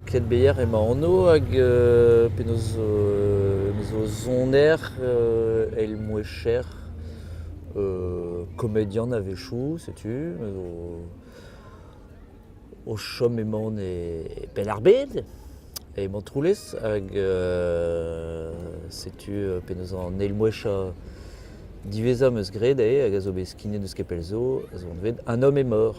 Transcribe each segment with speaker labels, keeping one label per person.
Speaker 1: Kedbeyer emañ anv hag penaos zo em eus o soner eil mouezher komedian a-wechoù setu me zo o chom emaon e Penn-ar-Bed e Montroulez hag setu penaos an eil mouezhañ diwezhañ 'm eus graet eo hag a zo bet skignet n'eus ket pell zo ez on bet Un homme est mort.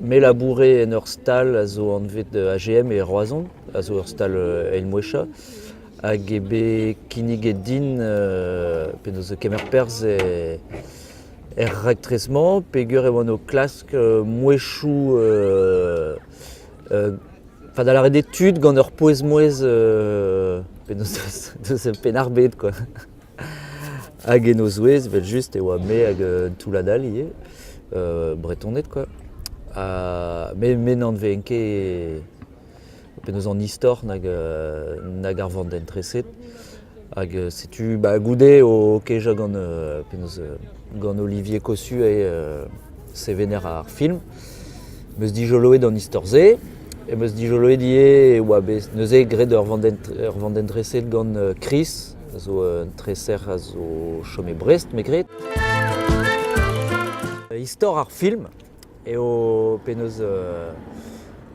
Speaker 1: Me labourais en ur stal a zo anvet AGM e Roazhon, a zo ur stal eilmoueshañ, hag eo bet kinniget din penaos kemer perzh er raktres-mañ peger e oan o klask mouezhioù enfin da lâret etud gant ur pouez-mouezh penaos deus pennarbed quoi. Hag en o zouez, evel-just, e oa me hag un toullad all ivez, Bretoned, quoi. Ha me, me n'anvean ket penaos an istor nag, nag ar vandenn-treset. Hag setu, bah, goude, o kejañ gant penaos gant Olivier Cossu e sevener ar film. 'Meus dijoloet an istor-se, e meus dijoloet ivez e oa bet neuze graet ur vandenn ur vandenn dreset gant Chris a zo un treser a zo chom e Brest me gred. Istor ar film eo penaos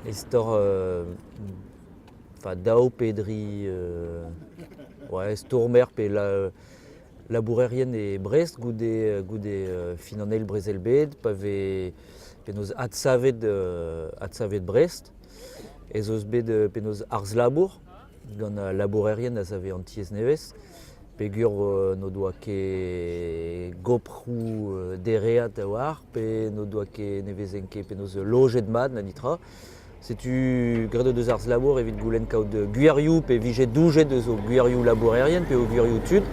Speaker 1: istor daou pe dri ouais stourmer pe la... labourerien e Brest goude, goude fin an eil brezel-bed, pa vez penaos adsavet, adsavet Brest, ez eus bet penaos arz-labour gant al labourerien a save an tiez nevez, peger n'o doa ket goprou dereat a oar, pe n'o doa ket, ne vezent ket penaos lojet mat, na nitra. Setu, graet o deus arz-labour evit goulenn kaout gwirioù pe vije doujet eus o gwirioù labourerien pe o gwirioù tud.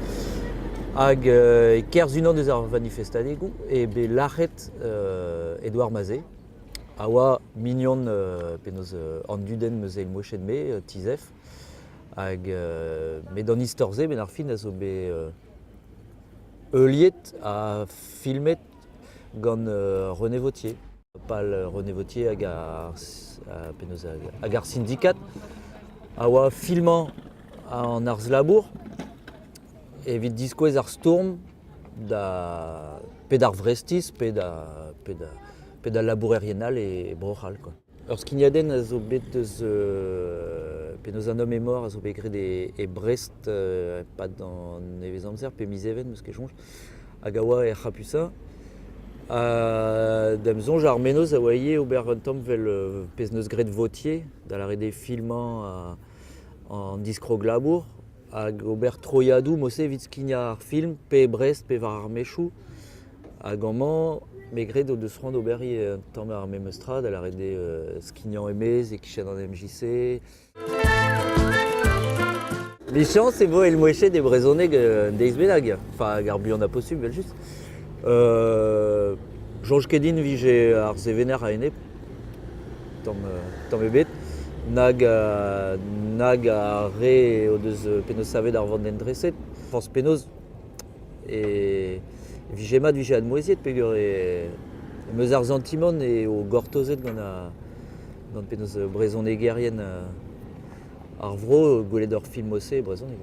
Speaker 1: Hag euh, e-kerzh unan eus ar vanifestadegoù eo bet lac'het euh, Edouard Mazet, a oa mignon euh, penaos euh, an dudenn meus eil moched-me, euh, Tizef. Hag euh, met d'an istor-se, benn ar fin, a zo bet euh, heuliet ha filmet gant euh, René Vautier. pal René Vautier hag ar, hag ar sindikat a oa filmañ an arz-labour evit diskouez ar stourm da pe d'ar vrestiz pe da, pe da, pe da labourerien all e Bro-C'hall. Ur skignadenn a zo bet eus euh, penaos un homme est mort a zo bet graet e, e Brest euh, e-pad an nevez-amzer pe miz Even, meus ket soñj. hag a oa er c'hapusa. Ha d'am soñj ar menoz a oa ivez ober un tamm vel euh, pezh neus graet votier, da lâret eo filmañ an diskrog-labour, hag ober troiadoù mos evit skignañ ar film, pe e Brest, pe war ar mechoù. Hag amañ, me gred o deus c'hoant d'ober ivez un tamm ar memes tra, da lâret eo euh, skignañ e-maez e-kichen an MJC, Lichañs e vo elmoechet e brezhoneg un deiz bennak, hag ar buan a posubl evel-just. Euh, Soñj ket din vije ar sevener a-enep, tamm, tamm ebet, nag, nag ar re o deus penaos savet ar vandentreset. Forzh penaos, E vije mat 'vije admouezhiet peger e em eus ar santimant eo gortozet gant ar gant penaos brezhonegerien ar vro gwelet hor filmoù-se e brezhoneg.